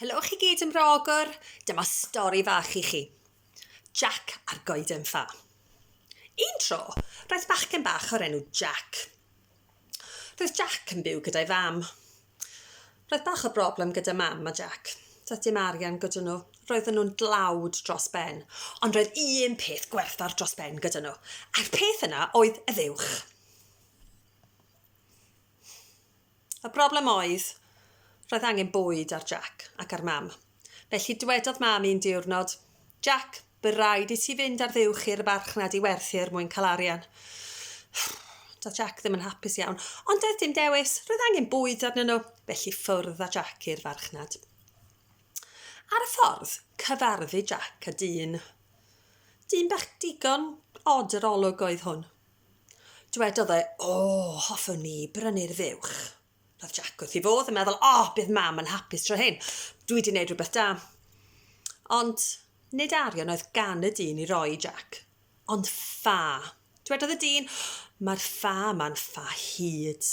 Helo chi gyd yn rogor, dyma stori fach i chi. Jack a'r goeden ffa. Un tro, roedd bachgen bach o'r enw Jack. Roedd Jack yn byw gyda'i fam. Roedd bach o broblem gyda mam a Jack. Doedd dim arian gyda nhw. Roedden nhw'n dlawd dros ben. Ond roedd un peth gwerthfawr dros ben gyda nhw. A'r peth yna oedd y fuwch. Y broblem oedd, roedd angen bwyd ar Jac ac ar Mam. Felly dwedodd Mam un diwrnod, Jac, bu raid i ti fynd ar fuwch i'r farchnad i werthu er mwyn cael arian. Doedd Jac ddim yn hapus iawn, ond doedd dim dewis, roedd angen bwyd arnyn nhw, felly ffwrdd a Jac i'r farchnad. Ar y ffordd, cyfarfu Jac a dyn. Dyn bach digon od yr olwg oedd hwn. Dwedodd e, O, hoffwn ni brynu'r fuwch. Roedd Jack wrth ei fodd yn meddwl, O, oh, bydd mam yn hapus tro hyn. Dwi wedi gwneud rhywbeth da. Ond nid arian oedd gan y dyn i roi i Jack, ond ffa. Dwedodd y dyn, Mae'r ffa yma'n ffa hyd.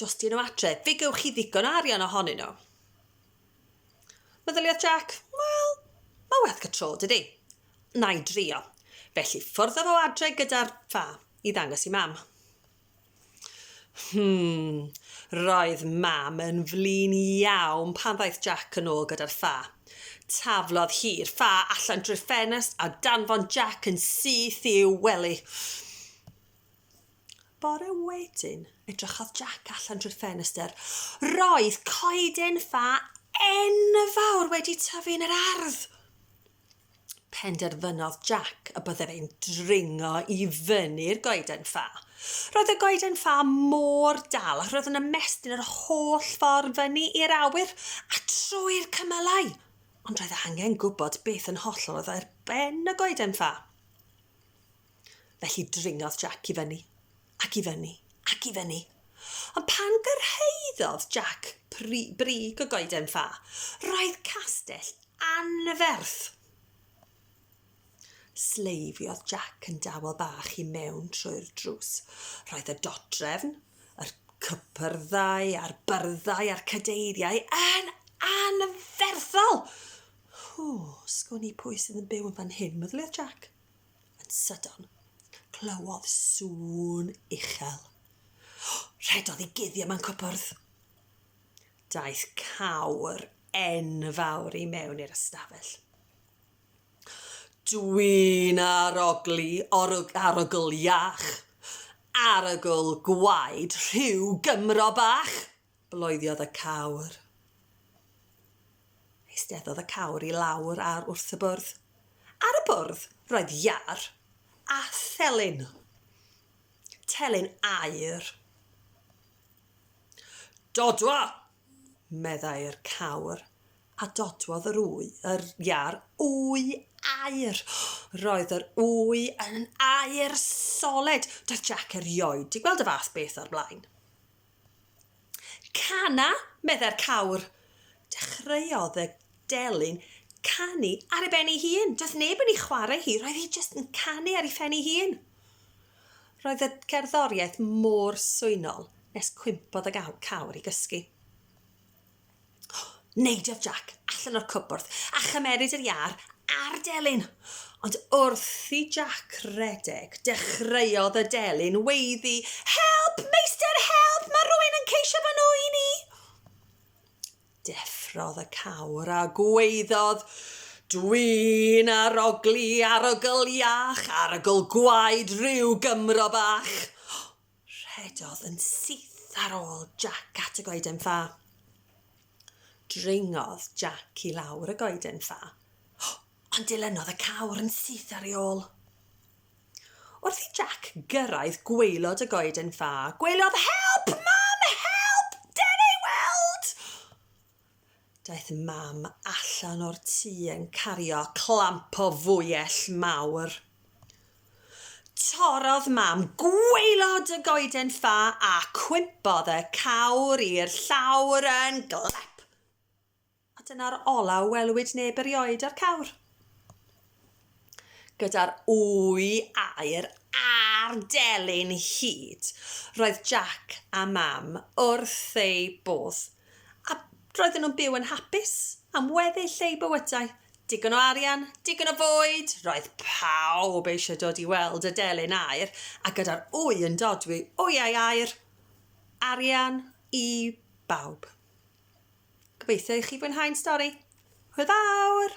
Jyst i nhw adre, fe gewch chi ddigon o arian ohonyn nhw. Meddyliodd Jack, wel, mae werth y tro, dydy. Na i drio. Felly fforddodd o adre gyda'r ffa i ddangos i mam. Hmm, roedd mam yn flin iawn pan ddaeth Jack yn ôl gyda'r ffa. Taflodd hi'r ffa allan drwy'r ffenest a danfon Jack yn syth i'w wely. Bore wedyn, edrychodd Jac allan trwy'r ffenestr. Roedd coeden ffa enfawr wedi tyfu yn yr ardd! Penderfynodd Jac y byddai fe'n dringo i fyny'r goeden ffa. Roedd y goeden ffa mor dal ac roedd yn ymestyn yr holl ffordd fyny i'r awyr a trwy'r cymylau. Ond roedd angen gwybod beth yn hollol oedd ar ben y goeden ffa. Felly dringodd Jac i fyny, ac i fyny, ac i fyny. Ond pan gyrhaeddodd Jac pri, brig y goeden ffa, roedd castell anferth. Sleifiodd Jac yn dawel bach i mewn trwy'r drws. Roedd y dodrefn, yr cypyrddau a'r byrddau a'r cadeiriau yn anferthol. Hw, sgwn i pwy sydd yn byw yn fan hyn, meddyliwyd Jac. Yn sydyn, clywodd sŵn uchel. Rhedodd i guddio mewn cwpwrdd. Daeth cawr enfawr i mewn i'r ystafell. Dwi'n arogli, orwg, arogl iach, arogl gwaed rhyw Gymro bach, Bloediodd y cawr. Eisteddodd y cawr i lawr ar wrth y bwrdd. Ar y bwrdd roedd iâr a thelyn. Telyn aer. Dodwa! meddai'r cawr, a dodwodd yr wy, yr iâr wy aer. Roedd yr wy yn aer soled. Doedd Jac erioed 'di gweld y fath beth o'r blaen. Cana, meddai'r cawr. Dechreuodd y delyn canu ar ei ben ei hun. Doedd neb yn ei chwarae hi, roedd hi jyst yn canu ar ei phen ei hun. Roedd y gerddoriaeth mor swynol nes cwympodd y cawr i gysgu. Neidiodd Jac allan o'r cwpwrdd a chymeryd yr iâr a'r delyn. Ond wrth i Jac redeg, dechreuodd y delyn weiddi, Help, meistr, help, mae rhywun yn ceisio fy nŵyn i! Deffrodd y cawr a gweiddodd, Dwi'n arogli, arogl iach, arogl gwaed rhyw Gymro bach. Rhedodd yn syth ar ôl Jac at y goeden ffa. Dringodd Jac i lawr y goeden ffa, ond dilynodd y cawr yn syth ar ei ôl. Wrth i Jac gyrraedd gwaelod y goeden ffa, gwelodd Help, mam! Help! Den ei weld! Daeth Mam allan o'r tŷ yn cario clamp o fwyell mawr. Torrodd Mam gwaelod y goeden ffa a cwympodd y cawr i'r llawr yn glap! A dyna'r olaf welwyd neb erioed o'r cawr. Gyda'r ŵy aer a'r delyn hud, roedd Jac a Mam wrth eu bodd, a roedden nhw'n byw yn hapus am weddill eu bywydau. Digon o arian, digon o fwyd, roedd pawb eisiau dod i weld y delyn aer, a gyda'r ŵy yn dodwy wyau aer, arian i bawb. Gobeithio i chi fwynhau'n stori. Hwyl fawr!